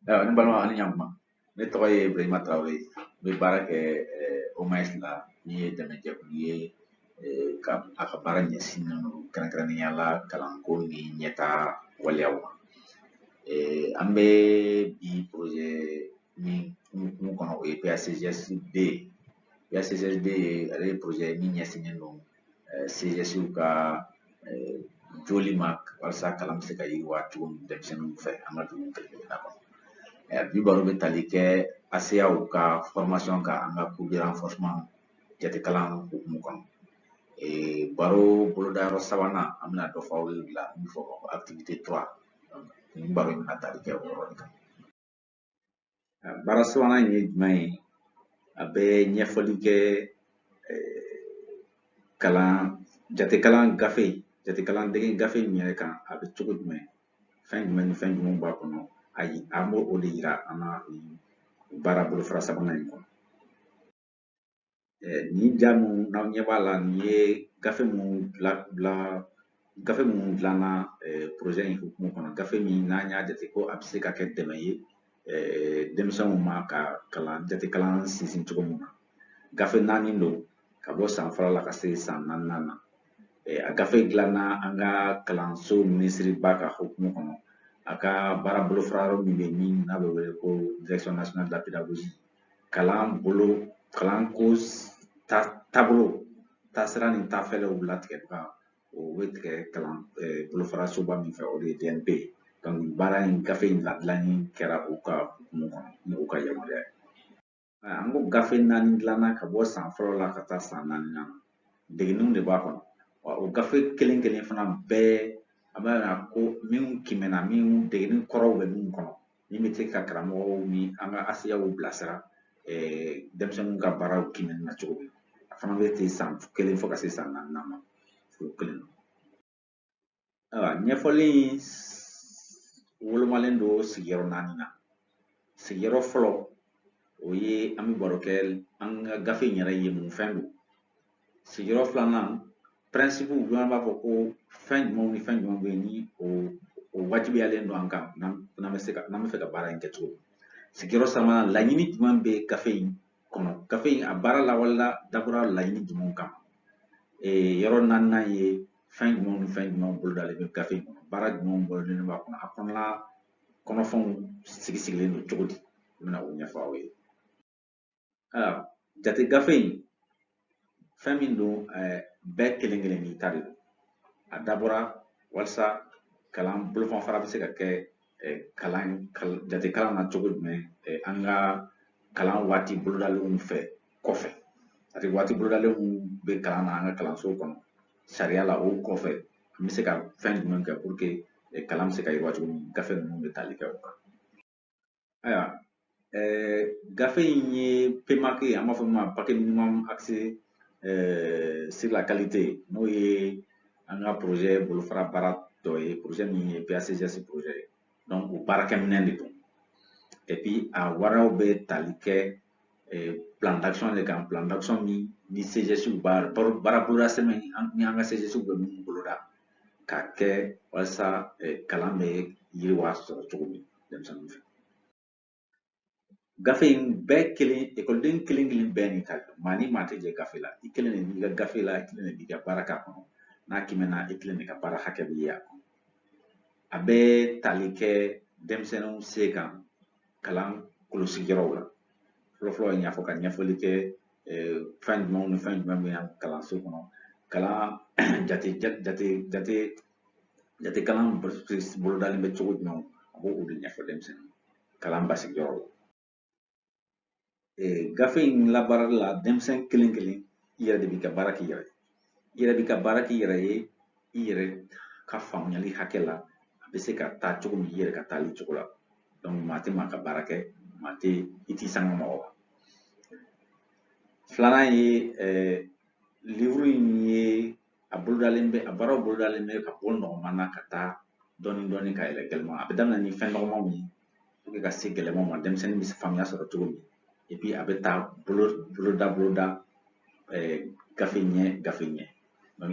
ayiwa ne balima ani ɲankuma ne tɔgɔ ye ibrahima tarawele n bɛ baara kɛ OMAES la min ye dɛmɛjɛkulu ye a ka baara ɲɛsinnen don kɛrɛnkɛrɛnnenya la kalanko ni ɲɛtaa waleyaw ma an bɛ bi projet min hukumu kɔnɔ o ye PACGSD ye PACGSD ye ale ye projet min ɲɛsinnen don eh, CGSw ka eh, jɔli ma walasa kalan bɛ se ka yiriwa cogo min denmisɛnninw fɛ an ka dugu kelen-kelenna kɔnɔ eh, bi baro bɛ tali kɛ ASEAw ka formation kan an ka cours de renforcement jatekalan hukumu kɔnɔ baro bolodayɔrɔ sabanan an bɛna dɔ fɔ aw ye o la min fɔ activité 3 nin baro in bɛna tali kɛ o yɔrɔ de kan baara sabanan in ye jumɛn ye a bɛ ɲɛfɔli kɛ kalan jatekalan gafe jatekalan dege gafe in yɛrɛ kan a bɛ cogo jumɛn fɛn jumɛn ni fɛn jumɛn b'a kɔnɔ ayi an b'o de yira aw la baara bolofara sabanan in kɔnɔ nin ja minnu n'aw ɲɛ b'a la nin ye gafe minnu dila dila gafe minnu dilanna projet in hukumu kɔnɔ gafe min n'an y'a jate ko a bɛ se ka kɛ dɛmɛ ye denmisɛnw ma ka kalan jatekalan sinsin cogo min na gafe naani don ka bɔ san fɔlɔ la ka se san naaninan na a gafe dilanna an ka kalanso minisiriba ka hukumu kɔnɔ a ka baara bolofara yɔrɔ min bɛ yen min n'a bɛ wele ko direction nationale de la pédagogie kalan bolo kalanko ta taabolo taasira ni taafɛɛrɛw latigɛ ko bɛ tigɛ kalan bolofara soba min fɛ o de ye DNP ye baara in gafe in ladilanni kɛra u ka hukumu kɔnɔ ni u ka yamaruya ye an ko gafe naani dilanna ka bɔ san fɔlɔ la ka taa san naaninan na degeninw de b'a kɔnɔ wa o gafe kelen kelen fana bɛɛ an b'a ko minnu kiimɛnna minnu degenin kɔrɔw bɛ minnu kɔnɔ min bɛ se ka karamɔgɔw ni an ka ASEAw bilasira denmisɛnninw ka baaraw kiimɛni na cogo min a fana bɛ ten san kelen fo ka se san naaninan ma o kelen ayiwa ɲɛfɔli in wolomalen don sigiyɔrɔ naani na sigiyɔrɔ fɔlɔ o ye an bɛ baro kɛ an ka gafe in yɛrɛ ye mun fɛn don sigiyɔrɔ filanan pɛrɛnsipuw bɛ an b'a fɔ ko fɛn jumɛnw ni fɛn jumɛnw bɛ yen ni o wajibiyalen don an kan n'an bɛ se ka n'an b'a fɛ ka baara in kɛ cogo min sigiyɔrɔ sabanan laɲini jumɛn bɛ gafe in kɔnɔ gafe in a baara lawalela dabɔra laɲini jumɛnw kama yɔrɔ naaninan ye fɛn jumɛnw ni fɛn jumɛnw bolodalen bɛ gafe in kɔnɔ baara jumɛnw bolodalen b'a kɔnɔ a kɔnɔna kɔnɔfɛnw sigi sigilen don cogo di n bɛna o ɲɛfɔ aw ye jate gafe in fɛn min don bɛɛ kelen kelen n'i ta de don a dabɔra walasa kalan bolofanfara bɛ se ka kɛ kalan jate kalan na cogo jumɛn an ka kalan waati bolodalenw fɛ kɔfɛ c'est-à-dire waati bolodalenw bɛ kalan na an ka kalanso kɔnɔ sariya la o kɔfɛ an bɛ se ka fɛn jumɛn kɛ pour que kalan bɛ se ka yiriwa cogo min gafe ninnu bɛ tali kɛ o kan ayiwa eh, gafe in ye PMAQ an b'a fɔ min ma paquet minimum axé eh, sur la qualité n'o ye an ka projet bolofara baara dɔ ye projet min ye PACGS projet ye donc o baarakɛminɛn de don et puis a baaraw bɛ tali kɛ eh, plan d'action de kan plan d'action min ni CGS b'a baara boloda sɛbɛn ni an ka CGS bɛ minnu boloda k'a kɛ walasa kalan bɛ yiriwa sɔrɔ cogo min denmisɛnninw fɛ gafe in bɛɛ kelen ekɔliden kelen kelen bɛɛ n'i ka maa ni maa tɛ jɛ gafe la i kelen de b'i ka gafe la i kelen de b'i ka baara k'a kɔnɔ n'a kiimɛna i kelen de ka baara hakɛ bɛ ye a kɔnɔ a bɛ tali kɛ denmisɛnninw se kan kalan kolosigiyɔrɔw la fɔlɔfɔlɔ i n'a fɔ ka ɲɛfɔli kɛ fɛn jumɛnw ni fɛn jumɛn bɛ yan kalanso kɔnɔ kalan jate jate jate jate kalan bolodalen bɛ cogo jumɛn a b'o o de ɲɛfɔ denmisɛnnin kalan basigiyɔrɔ la gafe in labaarali la denmisɛn kelen kelen i yɛrɛ de b'i ka baara k'i yɛrɛ ye i yɛrɛ b'i ka baara k'i yɛrɛ ye i yɛrɛ ka faamuyali hakɛ la a bɛ se ka taa cogo min i yɛrɛ ka taali cogo la donc maa tɛ maa ka baara kɛ maa tɛ i t'i sanga mɔgɔ ma filanan ye livre in ye a bolodalen bɛ a baaraw bolodalen bɛ ka bɔ nɔgɔman na ka taa dɔɔni dɔɔni ka yɛlɛ gɛlɛman a bɛ daminɛ ni fɛn nɔgɔmanw ye ka se gɛlɛman ma denmisɛnnin bɛ faamuya sɔrɔ cogo min et puis a bɛ taa bolo boloda boloda gafe ɲɛ gafe ɲɛ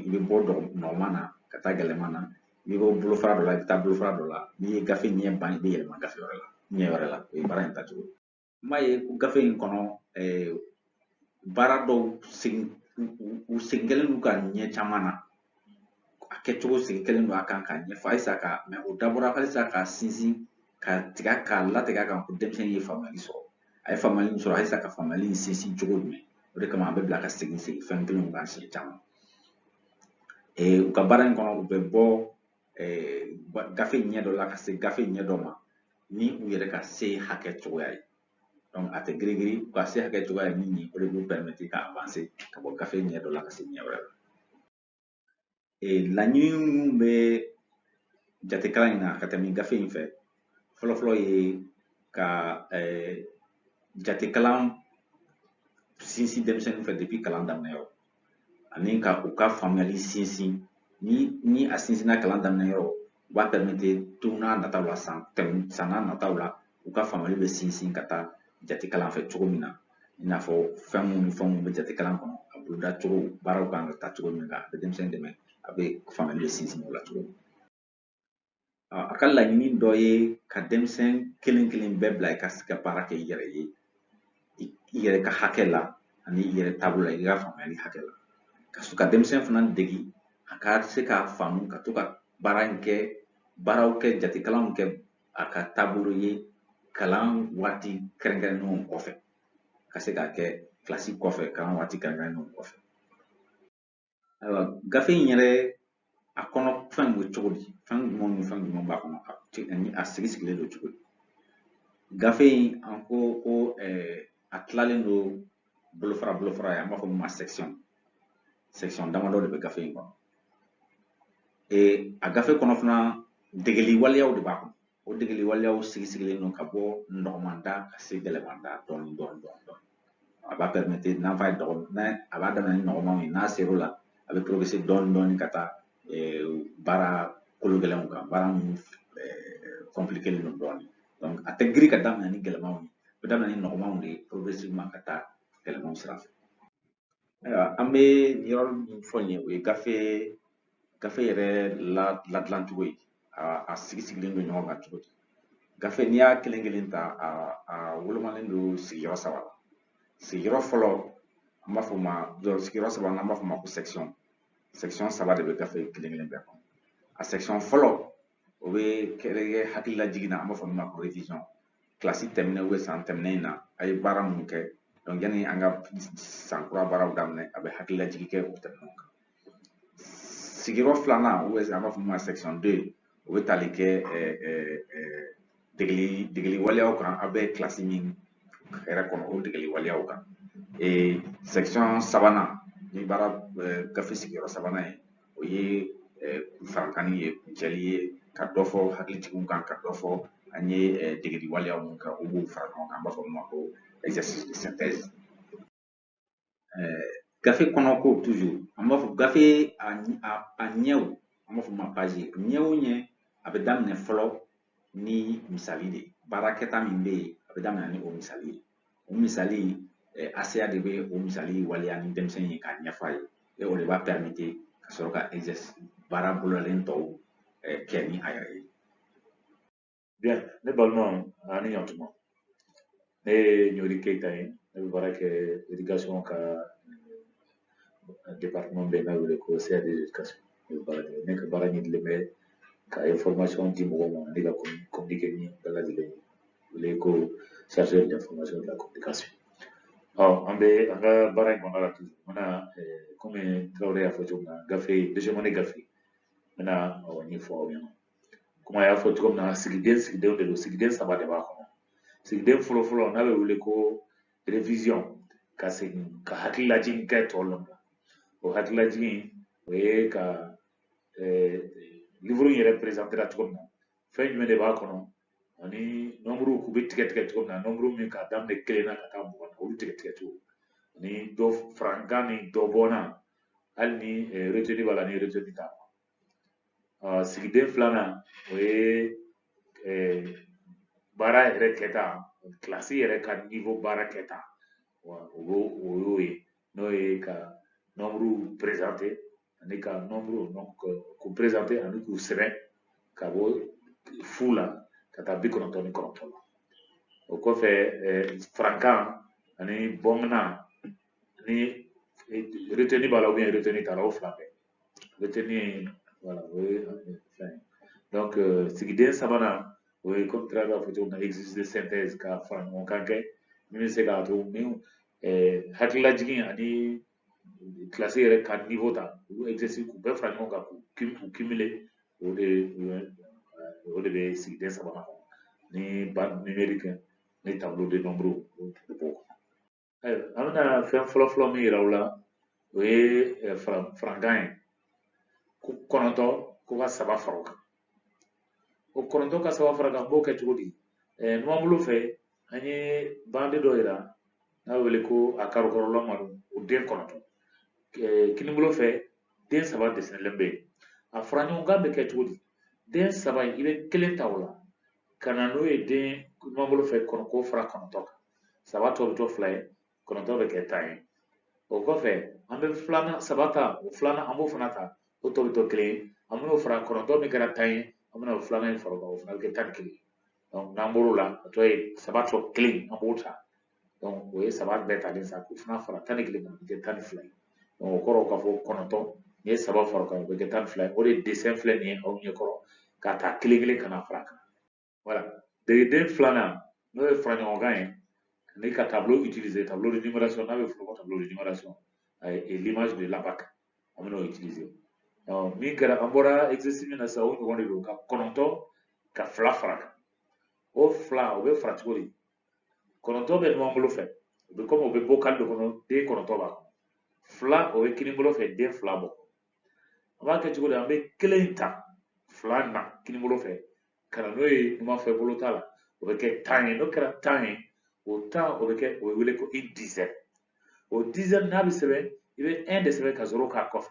i bɛ bɔ nɔgɔman na ka taa gɛlɛman na i bɛ bɔ bolofara dɔ la i bɛ taa bolofara dɔ la n'i ye gafe ɲɛ ban i bɛ yɛlɛma gafe wɛrɛ la ɲɛ wɛrɛ la o ye baara in tacogo ye an b'a ye ko gafe in kɔnɔ baara dɔw segin u segin kɛlen don u kan ɲɛ caman na a kɛcogo segin kɛlen don a kan k'a ɲɛfɔ halisa ka mɛ o dabɔra halisa k'a sinsin ka tiga k'a latigɛ a kan ko denmisɛnnin ye faamuyali sɔrɔ a ye faamuyali min sɔrɔ halisa ka faamuyali in sinsin cogo jumɛn o de kama an bɛ bila ka segin segin fɛn kelenw kan siɲɛ caman u ka baara in kɔnɔ u bɛ bɔ gafe ɲɛ dɔ la ka se gafe ɲɛ dɔ ma ni u yɛrɛ ka se hakɛ cogoya ye donc a tɛ girin-girin u ka se hakɛ cogoya ye min ye o de b'u pɛrimɛti ka avanse ka bɔ gafe ɲɛ dɔ la ka se ɲɛ wɛrɛ la laɲini minnu bɛ jatekalan in na ka tɛmɛ gafe in fɛ fɔlɔfɔlɔ ye ka jatekalan sinsin denmisɛnninw fɛ depuis kalan daminɛ yɔrɔ ani ka u ka faamuyali sinsin ni ni a sinsinna kalan daminɛ yɔrɔ o b'a pɛrimete don n'a nataw la san tɛmɛ san n'a nataw la u ka faamuyali bɛ sinsin ka taa jate kalan fɛ cogo min na i n'a fɔ fɛn minnu ni fɛn minnu bɛ jate kalan kɔnɔ a boloda cogo baaraw kan ka taa cogo min na a bɛ denmisɛnnin dɛmɛ a bɛ faamuyali bɛ sinsin o la cogo min A ka laɲini dɔ ye ka denmisɛn kelen kelen bɛɛ bila i ka se ka baara kɛ i yɛrɛ ye i yɛrɛ ka hakɛ la ani i yɛrɛ taabolo la i ka faamuyali hakɛ la ka sɔrɔ ka denmisɛn fana degi a ka se k'a faamu ka to ka baara in kɛ baaraw kɛ jatekalanw kɛ a ka taabolo ye kalan waati kɛrɛnkɛrɛnnenw kɔfɛ ka se k'a kɛ kilasi kɔfɛ kalan waati kɛrɛnkɛrɛnnenw kɔfɛ ayiwa gafe in yɛrɛ a kɔnɔ fɛn bɛ cogo di fɛn jumɛn ni fɛn jumɛn b'a kɔnɔ ani a sigi sigilen don cogo di gafe in an ko ko a tilalen don bolofara bolofara ye an b'a fɔ min ma section section damadɔ de bɛ gafe in kɔnɔ a gafe kɔnɔ fana degeli waleyaw de b'a kɔnɔ O degeli waleyaw sigi sigilen don ka bɔ nɔgɔman da ka se gɛlɛman da dɔɔni dɔɔni dɔɔni dɔɔni. A b'a pɛrimete n'an fa ye dɔgɔ n'a a b'a daminɛ ni nɔgɔmanw ye n'a ser'o la a bɛ porogerese dɔɔni dɔɔni ka taa baara kolo gɛlɛnw kan baara minnu kɔnpilikelen don dɔɔni. Donc a tɛ giri ka daminɛ ni gɛlɛmanw ye a bɛ daminɛ ni nɔgɔmanw de ye progressivement ka taa gɛlɛmanw sira fɛ. Ayiwa an bɛ yɔrɔ min fɔ nin ye o ye gafe gafe yɛrɛ ladilan cogo ye a a sigi sigilen don ɲɔgɔn kan cogo di gafe n'i y'a kelen kelen ta a a wolomalen don sigiyɔrɔ saba la sigiyɔrɔ fɔlɔ an b'a fɔ ma sigiyɔrɔ saba n'an b'a fɔ ma ko section section saba de bɛ gafe kelen kelen bɛɛ kɔnɔ a section fɔlɔ o bɛ kɛ hakililajigin na an b'a fɔ min ma ko révision kilasi tɛmɛnen ou bien san tɛmɛnen in na a ye baara mun kɛ donc yanni an ka san kura baaraw daminɛ a bɛ hakililajigi kɛ o tɛmɛnenw kan sigiyɔrɔ filanan u an b'a fɔ min ma section deux o bɛ tali kɛ degeli degeli waleyaw kan a bɛ kilasi min yɛrɛ kɔnɔ o degeli waleyaw kan section sabanan ni baara gafe sigiyɔrɔ sabanan ye o ye farankanni ye kuncɛli ye ka dɔ fɔ hakilijigiw kan ka dɔ fɔ an ye degeli waleya mun kan olu b'u fara ɲɔgɔn kan an b'a fɔ min ma ko exercice de synthèse gafe kɔnɔ ko toujours an b'a fɔ gafe a ɲɛw an b'a fɔ ma page ɲɛ o ɲɛ a bɛ daminɛ fɔlɔ ni misali de ye baara kɛta min bɛ yen a bɛ daminɛ ni o misali ye o misali eh, enseignant de bɛ o misali waleya ni denmisɛnnin ye k'a ɲɛfɔ a ye et o de b'a permete ka sɔrɔ ka exercice baara bolodalen tɔw eh, kɛ ni a yɛrɛ ye. Bien, ne balimaw ani ɲantuma. ne ye ɲori keyita ye ne bɛ baara kɛ edikasɔn ka departement bɛ n'a wele ko crd edikasɔn ne bɛ baara kɛ ne ka baara ɲɛsinnen bɛ ka information di mɔgɔw ma ani ka communique ni bɛɛ lajɛlen bɛ wele ko chargé de l'information de la communication ɔ an bɛ an ka baara in kɔnɔna la tugun n bɛna kɔmi tarawele y'a fɔ cogo min na gafe deuxième année gafe n bɛna ɲɛfɔ aw ɲɛna komi a y'a fɔ cogo min na sigiden sigidenw de don sigiden saba de b'a kɔnɔ sigiden fɔlɔfɔlɔ n'a bɛ wele ko revision ka segin ka hakililajigin kɛ tɔw la o hakililajigin o ye ka eh, livre in yɛrɛ perezantera cogo min na fɛn jumɛn de b'a kɔnɔ ani nɔnburuw k'u bɛ tigɛ tigɛ cogo min na nɔnburu min k'a daminɛ kelen na ka taa mugan na olu tigɛ tigɛ cogo ani dɔ farankan ni dɔ bɔnna hali ni eh, retenu b'a la ni retenu t'a la sigiden filanan o ye baara yɛrɛ kɛta kilasi yɛrɛ ka niwo baara kɛta o y'o ye n'o ye ka nɔnburuw perezante ani ka nɔnburuw k'u perezante ani k'u sɛbɛn ka bɔ fu la ka taa bi kɔnɔntɔn ni kɔnɔntɔn la o kɔfɛ farankan ani bɔnna ni reteni b'a la ubiyɛn reteni t'a la o fila bɛɛ bɛ tɛ min ye wala o ye fɛn donc euh, sigiden sabanan o ye komi tarawele y'a fɔ cogo min na exercice de synthèse ka fara ɲɔgɔn kan kɛ min bɛ se k'a to ni eh, hakililajigin ani kilasi yɛrɛ ka niveau ta olu exercice k'u bɛɛ fara ɲɔgɔn kan k'u cumuler o de o de bɛ sigiden sabanan kɔnɔ ni bande numérique ni tableau de nombre o b'o kɔnɔ Ayiwa an bɛna fɛn fɔlɔ fɔlɔ min yira aw la o ye eh, farankan ye ko kɔnɔntɔ ko ka saba fara o kan o kɔnɔntɔ ka saba fara a kan an b'o kɛ cogo di eh, numanbolo fɛ an ye bande dɔ yira n'a bɛ wele ko a karikɔrɔla malo o den kɔnɔntɔ eh, kinibolo fɛ den saba desinelen bɛ yen a fara ɲɔgɔn kan bɛ kɛ cogo di den saba in i bɛ kelen ta o la ka na n'o ye de numanbolo fɛ k'o fara kɔnɔntɔn kan saba tɔ bɛ to fila ye kɔnɔntɔn bɛ kɛ tan ye o kɔfɛ an bɛ filanan saba ta o filanan an b'o fana ta o tɔ bɛ to kelen ye an bɛn'o fara kɔnɔntɔn min kɛra tan ye an bɛna o filanan in fara o kan o fana bɛ kɛ tan ni kelen ye n'an bɔr'o la a tɔ ye saba tɔ kelen an b'o ta o ye saba bɛɛ talen sa k'u fana fara tan ni kelen kan o bɛ kɛ tan ni fila ye o kɔrɔ ka fɔ kɔnɔntɔn n'i ye saba fara kan o bɛ kɛ tan ni fila ye o de dessin filɛ nin ye aw ɲɛ kɔrɔ ka ta kelen kelen ka na fara kan voilà degeli filanan n'o ye faraɲɔgɔnkan ye ani ka tableau utiliser tableau de numération n'a bɛ f'o ma tableau de numération et l'image de l'abaque an bɛn'o utiliser min kɛra an bɔra exercice min na sisan o ɲɔgɔn de don ka kɔnɔntɔn ka fila fara kan o fila o bɛ fara cogo di kɔnɔntɔn bɛ numan bolo fɛ u bɛ kɔmi u bɛ bocal dɔ kɔnɔ den kɔnɔntɔn b'a kɔnɔ fila o bɛ kini bolo fɛ den fila bɔ an b'a kɛ cogo di an bɛ kelen in ta fila na kini bolo fɛ ka na n'o ye numanfɛ bolo ta la o bɛ kɛ tan ye n'o kɛra tan ye o tan o bɛ kɛ o bɛ wele ko une dizaine o dizaine n'a bɛ sɛbɛn i bɛ un de sɛbɛn ka zéro k'a kɔfɛ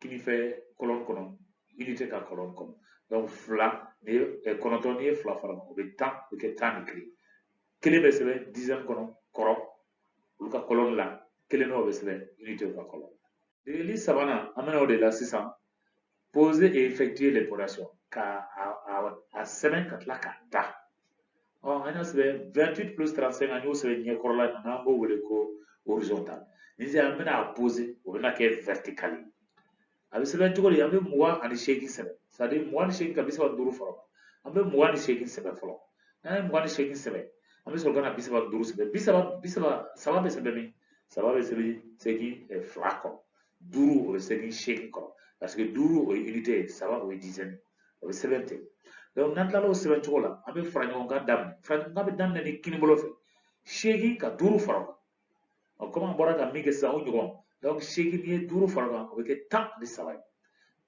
kini fɛ colonne kɔnɔ unité ka colonne kɔnɔ donc fila n'i ye kɔnɔntɔn n'i ye fila fara o bɛ tan o bɛ kɛ tan ni kelen kelen bɛ sɛbɛn dizaine kɔnɔ kɔrɔ olu ka colonne la kelen dɔ bɛ sɛbɛn unitéw ka colonne degeli sabanan an bɛna o de la sisan poser et effectuer l'opération ka a, a, a sɛbɛn ka tila k'a da ɔ an y'a sɛbɛn 28 plus 35 an y'o sɛbɛn ɲɛkɔrɔla in na n'an b'o wele ko horizontal ni sisan an bɛna a poser o bɛna kɛ vertical ye a bɛ sɛbɛn cogo di an bɛ mugan ani seegin sɛbɛn c'est à dire mugan ni seegin ka bi saba ni duuru fara an bɛ mugan ni seegin sɛbɛn fɔlɔ n'an ye mugan ni seegin sɛbɛn an bɛ sɔrɔ ka na bi saba ni duuru sɛbɛn bi saba bi saba saba bɛ sɛbɛn min saba bɛ sɛbɛn seegin fila kɔrɔ duuru o bɛ sɛbɛn seegin kɔrɔ parce que duuru o ye unité ye saba o ye dizaine o bɛ sɛbɛn ten donc n'an tilala o sɛbɛn cogo la an bɛ fara ɲɔgɔn kan daminɛ fara ɲɔgɔn kan bɛ daminɛ ni kinibolo fɛ seegin ka duuru fara o kan ɔ komi an bɔra ka min kɛ sisan o ɲɔgɔn donc seegin n'i ye duuru fara o kan o bɛ kɛ tan ni saba ye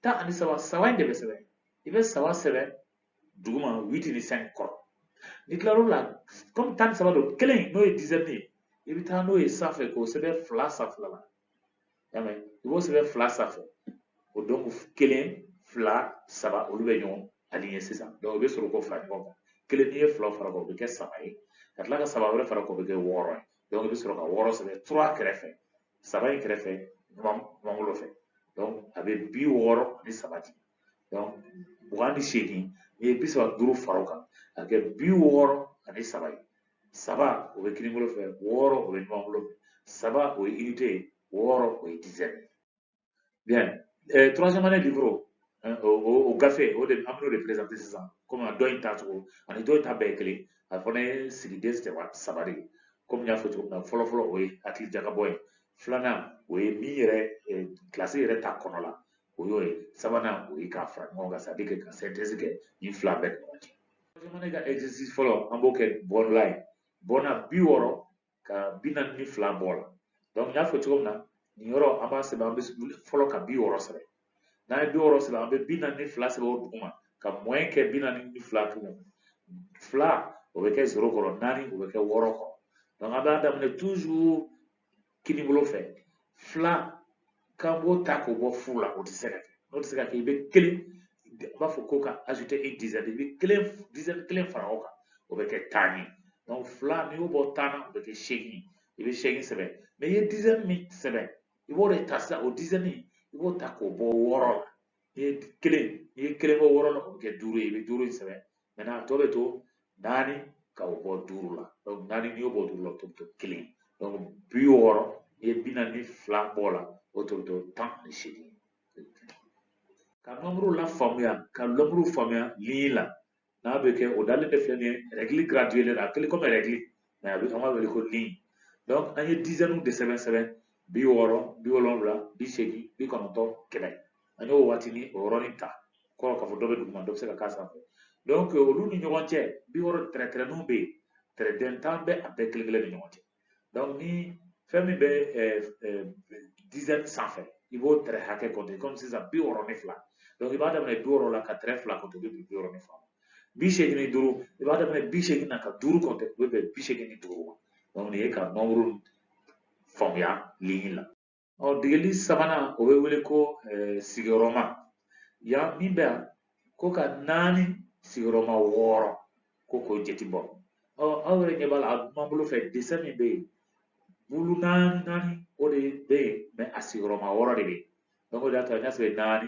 tan ani saba saba in de bɛ sɛbɛn i bɛ saba sɛbɛn duguma huit ni cinq kɔrɔ n'i tila l'o la komi tan ni saba don kelen n'o ye dizaine ye i bɛ taa n'o ye sanfɛ k'o sɛbɛn fila sanfɛla la y'a mɛn i b'o sɛbɛn fila sanfɛ o donc kelen fila saba olu bɛ ɲɔgɔn aligner sisan donc o bɛ sɔrɔ k'o fara ɲɔgɔn kan kelen n'i ye fila fara kan o bɛ kɛ saba ye ka tila ka saba wɛrɛ fara kan o bɛ kɛ wɔɔrɔ ye donc i bɛ sɔrɔ ka wɔɔrɔ sɛbɛn trois kɛrɛfɛ saba in kɛrɛfɛ numanbolo fɛ donc a bɛ bi wɔɔrɔ ni saba di donc mugan ni seegin n'i ye bi saba duuru fara o kan a bɛ kɛ bi wɔɔrɔ ani saba ye saba o bɛ kininbolo fɛ wɔɔrɔ o bɛ numanbolo fɛ saba o ye unité ye wɔɔrɔ o ye dizaine ye bien euh, troisième année livre euh, o gafe o de an bɛn'o de présenter sisan komi dɔ in ta cogo ani dɔ in ta bɛɛ ye kelen a fana ye sigiden saba saba de ye komi n y'a fɔ cogo min na fɔlɔ fɔlɔ o ye hakili jagabɔ ye filanan o ye min yɛrɛ euh, kilasi yɛrɛ ta kɔnɔ la o y'o ye sabanan o ye k'a fara ɲɔgɔn kan c'est à dire que ka synthèse kɛ nin fila bɛɛ ni ɲɔgɔn cɛ jamana ka exercice fɔlɔ an b'o kɛ bɔnla ye bɔnna bi wɔɔrɔ ka bi naani ni fila bɔ a la donc n y'a fɔ cogo min na nin yɔrɔ an b'a sɛbɛn an bɛ fɔlɔ ka bi wɔɔrɔ sɛbɛn n'an ye bi wɔɔrɔ sɛbɛn an bɛ bi naani ni fila sɛbɛn o duguma ka moins kɛ bi naani ni fila tugun fila o bɛ kɛ zero kɔrɔ naani o bɛ kɛ wɔɔrɔ kɔrɔ donc an b'a daminɛ toujours kinibolo fɛ fila k'an b'o ta k'o bɔ fu la o tɛ se ka kɛ n'o tɛ se ka kɛ i bɛ kelen u b'a fɔ ko ka ajouter une dizaine i bɛ kelen dizɛni kelen fara o kan o bɛ kɛ tan ye donc fila n'i y'o bɔ tan na o bɛ kɛ seegin i bɛ seegin sɛbɛn mɛ i ye dizɛni min sɛbɛn i b'o de ta sisan o dizɛni i b'o ta k'o bɔ wɔɔrɔ la n'i ye kelen n'i ye kelen bɔ wɔɔrɔ la o bɛ kɛ duuru ye i bɛ duuru in sɛbɛn maintenant a tɔ bɛ to naani ka o bɔ duuru la naani n'i y'o bɔ duuru la o tɔ bɛ to kelen donc bi wɔɔrɔ n'i ye bi naani ni fila bɔ o la o tɔ bɛ to tan ni seegin ka nɔnburu la faamuya ka nɔnburu faamuya liɲi la n'a bɛ kɛ o dalen de filɛ nin ye rɛgili graduelen a kɛlen kɔmi rɛgili mɛ a bɛ an b'a wele ko liɲi donc an ye dizɛniw de sɛbɛn sɛbɛn bi wɔɔrɔ bi wolonwula bi seegin bi kɔnɔntɔn kɛmɛ an y'o waati ni o yɔrɔnin ta kɔrɔ k'a fɔ dɔ bɛ duguma dɔ bɛ se ka k'a sanfɛ donc olu ni ɲɔgɔn cɛ bi wɔɔrɔ tɛrɛtɛrɛninw bɛ yen tɛrɛden tan bɛ a bɛɛ kelen kelen ni ɲɔgɔn cɛ donc ni fɛn min bɛ dizɛn sanfɛ i b'o tɛrɛ hakɛ kɔnte kɔmi sisan bi wɔɔrɔ ni fila donc i b'a daminɛ bi wɔɔrɔ la ka tɛrɛ fila kɔnte o bɛ bɛn bi wɔɔrɔ ni fila ma bi seegin ni duuru i b'a daminɛ bi seegin na ka duuru kɔnte o bɛ bɛn bi seegin ni duuru ma donc nin ye ka nɔnburu faamuya liɲi la ɔ degeli sabanan o bɛ wele ko sigiyɔrɔma yan min bɛ yan ko ka naani sigiyɔrɔma wɔɔrɔ ko k'o jate bɔ ɔ aw yɛrɛ ɲɛ b'a la a numanbolo fɛ desɛn min bɛ yen bulu naani naani o de bɛ yen mɛ a sigiyɔrɔma wɔɔrɔ de bɛ yen donc o de y'a to an y'a sɛbɛn naani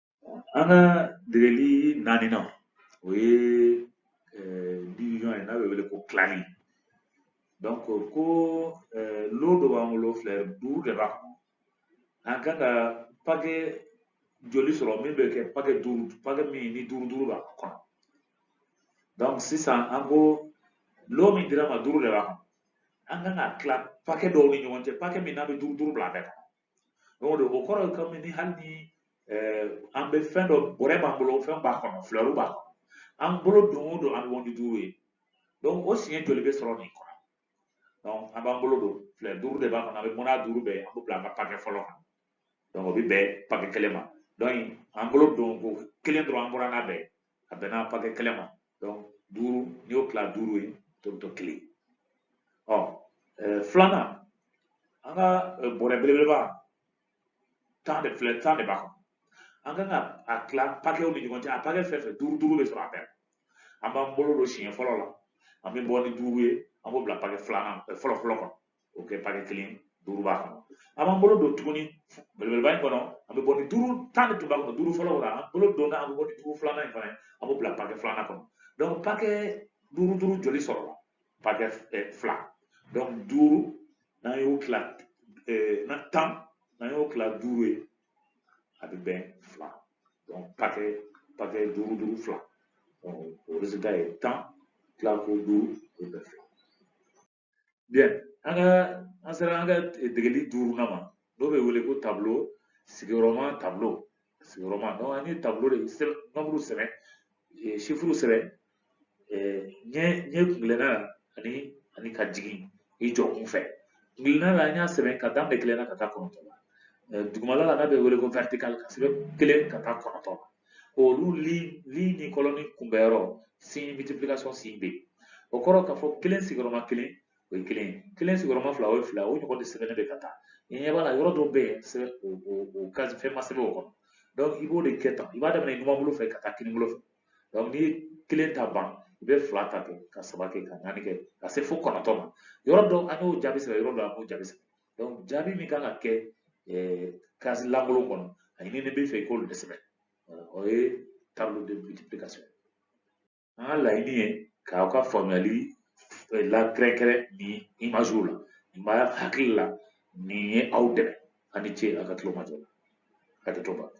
An ka degeli naaninan o ye eh, division ye n'a bɛ wele ko tilali donc ko eh, lo dɔ b'an bolo filɛru duuru de b'a kɔnɔ an kan ka pake joli sɔrɔ min bɛ kɛ pake duuru pake min ni duuru duuru b'a kɔnɔ donc sisan an ko lo min dira an ma duuru de b'a kɔnɔ an kan k'a tila pake dɔw ni ɲɔgɔn cɛ pake min n'a bɛ duuru duuru bila a bɛɛ kɔnɔ o de o kɔrɔ ye kɔmi ni hali ni an bɛ fɛn dɔ bɔrɛ b'an bolo fɛn b'a kɔnɔ filɛru b'a kɔnɔ an bolo don o don an bɛ bɔ ni duuru ye o siɲɛ joli bɛ sɔrɔ nin kɔnɔ an b'an bolo don filɛru duuru de b'a kɔnɔ an bɛ bɔ n'a duuru bɛɛ an b'o bila an ka pakɛ fɔlɔ kan o bɛ bɛn pakɛ kelen ma an bolo don ko kelen dɔrɔn an bɔra n'a bɛɛ a bɛnna pakɛ kelen ma donc duuru n'i y'o tila duuru ye tɔ bɛ to kelen ɔ filanan an ka bɔrɛ belebeleba tan de filɛ tan de b'a kɔnɔ an kan ka a tila pakɛw ni ɲɔgɔn cɛ a pakɛ fɛn fɛn duuru duuru bɛ sɔrɔ a bɛɛ an b'an bolo don siɲɛ fɔlɔ la an bɛ bɔ ni duuru ye an b'o bila pakɛ filanan fɔlɔ fɔlɔ kɔnɔ oke pakɛ kelen duuru b'a kɔnɔ an b'an bolo don tuguni belebeleba in kɔnɔ an bɛ bɔ ni duuru tan de tun b'a kɔnɔ duuru fɔlɔ la an bolo donna an bɛ bɔ ni duuru filanan in fana ye an b'o bila pakɛ filanan kɔnɔ donc pakɛ duuru duuru joli sɔrɔla pakɛ fila donc duuru n'an y'o tila na tan n'an y'o tila duuru ye a bɛ bɛn fila donc pakɛ pakɛ duuru duuru fila donc o ye tan tila ko duuru o bɛ fila Bien, an ka an sera an ka degeli duurunan ma n'o bɛ wele ko tablo sigiyɔrɔma tablo sigiyɔrɔma donc an ye tablo de sɛbɛn nombre sɛbɛn chiffre sɛbɛn ɲɛ ɲɛ kuntilenna ani ani ka jigin i jɔ kun fɛ kuntilenna la an y'a sɛbɛn ka daminɛ kelen na ka taa kɔnɔntɔn la dugumala la n'a bɛ wele ko vertical k'a sɛbɛn kelen ka taa kɔnɔntɔn la olu li ligne ni colonne kunbɛnyɔrɔ signe multiplication signe bɛ yen o kɔrɔ k'a fɔ kelen sigiyɔrɔma kelen o ye kelen ye kelen sigiyɔrɔma fila o ye fila o ɲɔgɔn de sɛbɛnnen bɛ ka taa i ɲɛ b'a la yɔrɔ dɔw bɛ yen sɛbɛn o o o case fɛn ma sɛbɛn o kɔnɔ donc i b'o de kɛ tan i b'a daminɛ numanbolo fɛ ka taa kinibolo fɛ donc n'i ye kelen ta ban i bɛ fila ta kɛ ka saba kɛ ka naani kɛ ka se fo kɔnɔntɔn ma yɔrɔ dɔw an y'o jaabi sɛbɛn yɔrɔ dɔw an m'o jaabi sɛbɛn donc jaabi min kan ka kɛ case lankolon kɔnɔ a ɲininen b'i fɛ i k'olu de sɛbɛn o ye tableau de multiplication an ka laɲini ye k'aw ka faamuyali lakɛrɛnkɛrɛn nin imagew la nin b'a hakili la nin ye aw dɛmɛ a ni ce a ka tulomajɔ la hakɛto b'a la